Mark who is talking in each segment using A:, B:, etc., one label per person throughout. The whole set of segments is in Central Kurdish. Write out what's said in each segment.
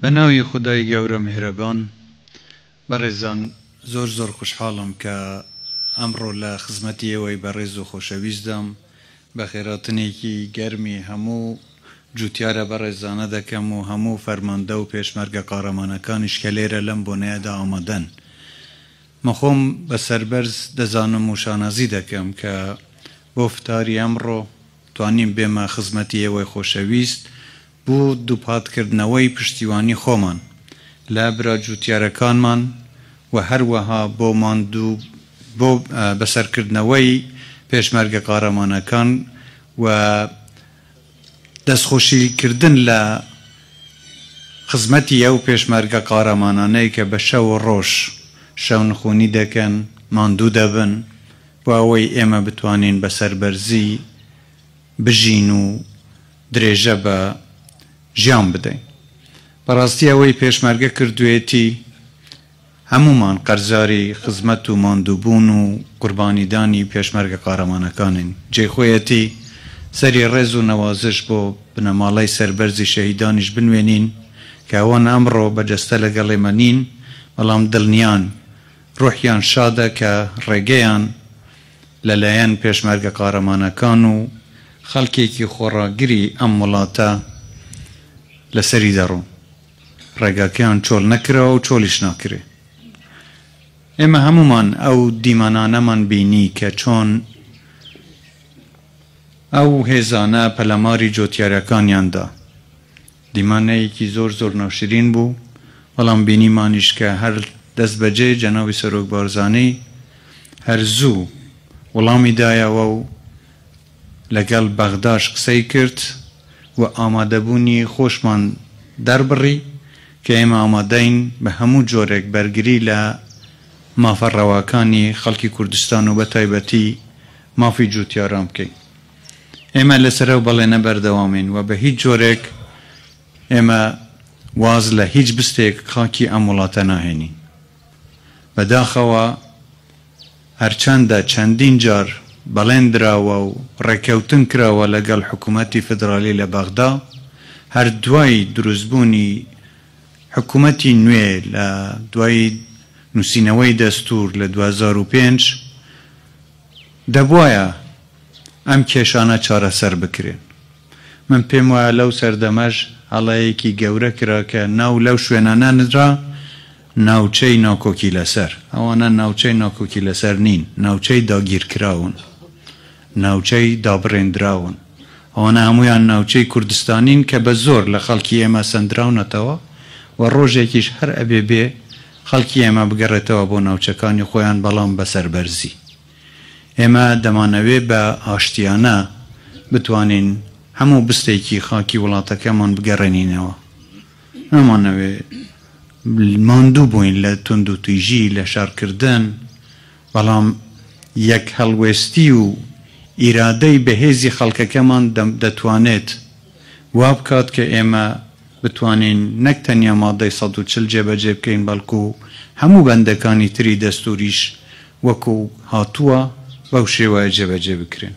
A: بە ناوی خودای گەورە میهرەبان بەڕێزان زۆر زۆر خوشحاڵم کە ئەمڕۆ لە خزمەتی ئێوەی بەڕێز و خۆشەویستدام بە خێراتنێکی گەرمی هەموو جوتیارە بەڕێزانە دەکەم و هەموو فەرماندە و پێشمەرگە قارەمانەکانیش کە لێرە لەم بۆنەیەدا ئامادەن من خۆم بە سەربەرز دەزانم و شانازی دەکەم کە بۆ فتاری ئەمڕۆ توانیم بێمە خزمەتی ئێوەی خۆشەویست بۆ دووپاتکردنەوەی پشتیوانی خۆمان لە برا جووتیارەکانمان و هەروەها بۆ ماندوو بۆ بەسەرکردنەوەی پێشمەرگە قارەمانەکان و دەستخۆشیکردن لە خزمەتی ئەو پێشمەرگە قارەمانانەی کە بە شەو و ڕۆژ شەونخوونی دەکەن، ماندوو دەبن بۆ ئەوەی ئێمە بتوانین بە سەربەرزی بژین و درێژە بە ژیان بدەین. بەڕاستی ئەوەی پێشمەرگە کردویەتی هەموومان قەرزاری خزمەت و ماندووبوون و قوربانیدانی پێشمەرگە قارەمانەکانین. جێی خۆیەتی سەری ڕێز و نەوازش بۆ بنەماڵەی سەربەرزی شەهیدانیش بنوێنین کە ئەوان ئەمڕۆ بە جەستە لەگەڵ ئێمە نین بەڵام دڵنیاین ڕۆحیان شادە کە ڕێگەیان لەلایەن پێشمەرگە قارەمانەکان و خەڵکێکی خۆڕاگری ئەم وڵاتە لەسەری دەڕۆن، ڕێگاکەیان چۆڵ نەکراوە و چۆڵیش ناکرێ. ئێمە هەموومان ئەو دیمەنانەمان بینی کە چۆن ئەو هێزانە پەلاماری جۆتیارەکانیان دا. دیمانەیەکی زۆر زۆر ناشرین بوو، بەڵام بینیمانیش کە هەر دەستبەجێ جەنابی سەرۆک بارزانی هەر زوو وڵامی دایەوە و لەگەڵ بەغداش قسەی کرد و ئامادەبوونی خۆشمان دەربڕی کە ئێمە ئامادەین بە هەموو جۆرێک بەرگری لە مافە ڕەواکانی خەڵکی کوردستان و بەتایبەتی مافی جووتیاران بکەین. ئێمە لەسەر ئەو بەڵێنە بەردەوامین و بە هیچ جۆرێک ئێمە واز لە هیچ بستێک خاکی ئەم وڵاتە ناهێنین. بەداخەوە هەرچەندە چەندین جار بەڵێن دراوە و ڕێککەوتن کراوە لەگەڵ حکوومەتی فیدراڵی لە بەغدا، هەر دوای دروستبوونی حکوومەتی نوێ لە دوای نووسینەوەی دەستوور لە دوو هەزار و پێنج، دەبوایە ئەم کێشانە چارەسەر بکرێن. من پێم وایە لەو سەردەمەش هەڵەیەکی گەورە کرا کە ناو لەو شوێنانە نرا ناوچەی ناکۆکی لەسەر. ئەوانە ناوچەی ناکۆکی لەسەر نین، ناوچەی داگیرکراون، ناوچەی دابڕێندراون. ئەوانە هەموویان ناوچەی کوردستانین کە بە زۆر لە خەڵکی ئێمە سەندراونەتەوە و ڕۆژێکیش هەر ئەبێ بێ خەڵکی ئێمە بگەڕێتەوە بۆ ناوچەکانی خۆیان بەڵام بە سەربەرزی. ئێمە دەمانەوێ بە ئاشتیانە بتوانین هەموو بستێکی خاکی وڵاتەکەمان بگەڕێنینەوە. نامانەوێ ماندوو بووین لە توندوتیژی، لە شەڕکردن، بەڵام یەک هەڵوێستی و ئیرادەی بەهێزی خەڵکەکەمان دەتوانێت وا بکات کە ئێمە بتوانین نەک تەنیا مادەی سەد و چل جێبەجێ بکەین بەڵکوو هەموو بەندەکانی تری دەستووریش وەکو هاتووە بەو شێوەیە جێبەجێ بکرێن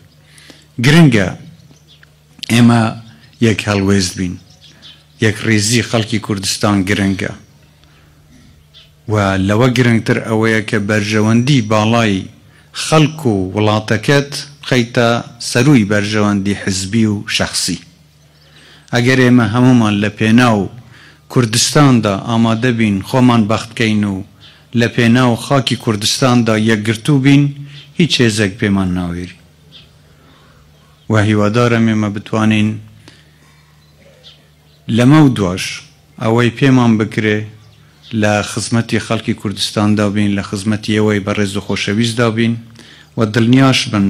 A: گرنگە ئێمە یەک هەڵوێست بین یەکڕیزی خەڵکی کوردستان گرنگە و لەوە گرنگتر ئەوەیە کە بەرژەوەندی باڵای خەڵک و وڵاتەکەت بخەیتە سەرووی بەرژەوەندی حزبی و شەخسی. ئەگەر ئێمە هەموومان لە پێناو کوردستاندا ئامادە بین خۆمان بەخت بکەین و لە پێناو خاکی کوردستاندا یەکگرتوو بین هیچ هێزێک پێمان ناوێری و هیوادارم ئێمە بتوانین لەمەو دواش ئەوەی پێمان بکرێ لە خزمەتی خەڵکی کوردستاندا بین لە خزمەتی ئێوەی بەڕێز و خۆشەویستدا بین و دڵنیاش بن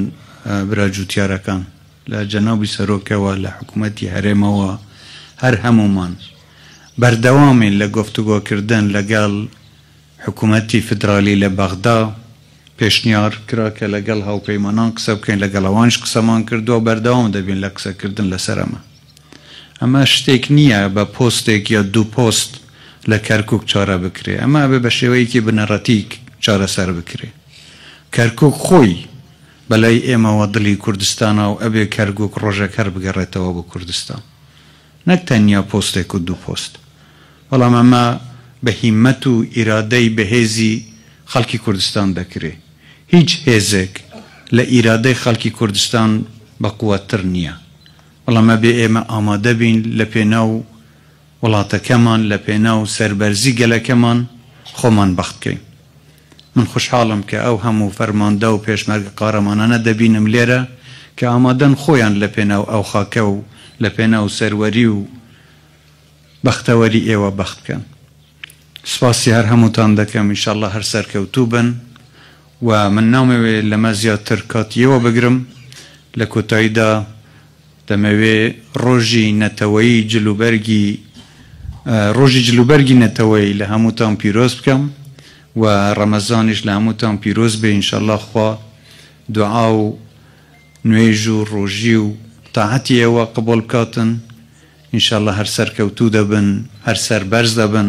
A: برا جووتیارەکان. لە جەنابی سەرۆکەوە، لە حکومەتی هەرێمەوە، هەر هەموومان بەردەوامین لە گفتوگۆکردن لەگەڵ حکومەتی فیدرالی لە بەغدا، پێشنیار کرا کە لەگەڵ هاوپەیمانان قسە بکەین، لەگەڵ ئەوانیش قسەمان کردووە و بەردەوام دەبین لە قسەکردن لەسەر ئەمە. ئەمە شتێک نییە بە پۆستێک یا دوو پۆست لە کەرکووک چارە بکرێ، ئەمە ئەبێ بە شێوەیەکی بنەڕەتیی چارەسەر بکرێ. کەرکووک خۆی. بەلای ئێمەوە دڵی کوردستانە و ئەبێ کەرگوک ڕۆژێک هەر بگەڕێتەوە بۆ کوردستان نەک تەنیا پۆستێک و دوو پۆست بەڵام ئەمە بە هیمەت و ئیرادەی بەهێزی خەڵکی کوردستان دەکرێ هیچ هێزێک لە ئیرادەی خەڵکی کوردستان بەقوەتتر نیە بەڵام ئەبێ ئێمە ئامادەبین لە پێناو وڵاتەکەمان لە پێناو سەربەرزی گەلەکەمان خۆمان بەختکەین. من خوشحاڵم کە ئەو هەموو فەرماندە و پێشمەرگە قارەمانانە دەبینم لێرە کە ئامادەن خۆیان لە پێناو ئەو خاکە و لە پێناو سەروەری و بەختەوەری ئێوە بەخت بکەن. سپاسی هەر هەمووتان دەکەم ئینشاڵڵا هەر سەرکەوتوو بن و من نامەوێ لەمە زیاتر کاتی ئێوە بگرم لە کۆتاییدا، دەمەوێ ڕۆژی نەتەوەیی جل و بەرگی ڕۆژی جل و بەرگی نەتەوەیی لە هەمووتان پیرۆز بکەم و ڕەمەزانیش لە هەمووتان پیرۆز بێ انشاللە خوا دوعا و نوێژ و ڕۆژی و تاعەتی ئێوە قبوڵ بکاتن انشاللە هەر سەرکەوتوو دەبن هەر سەربەرز دەبن.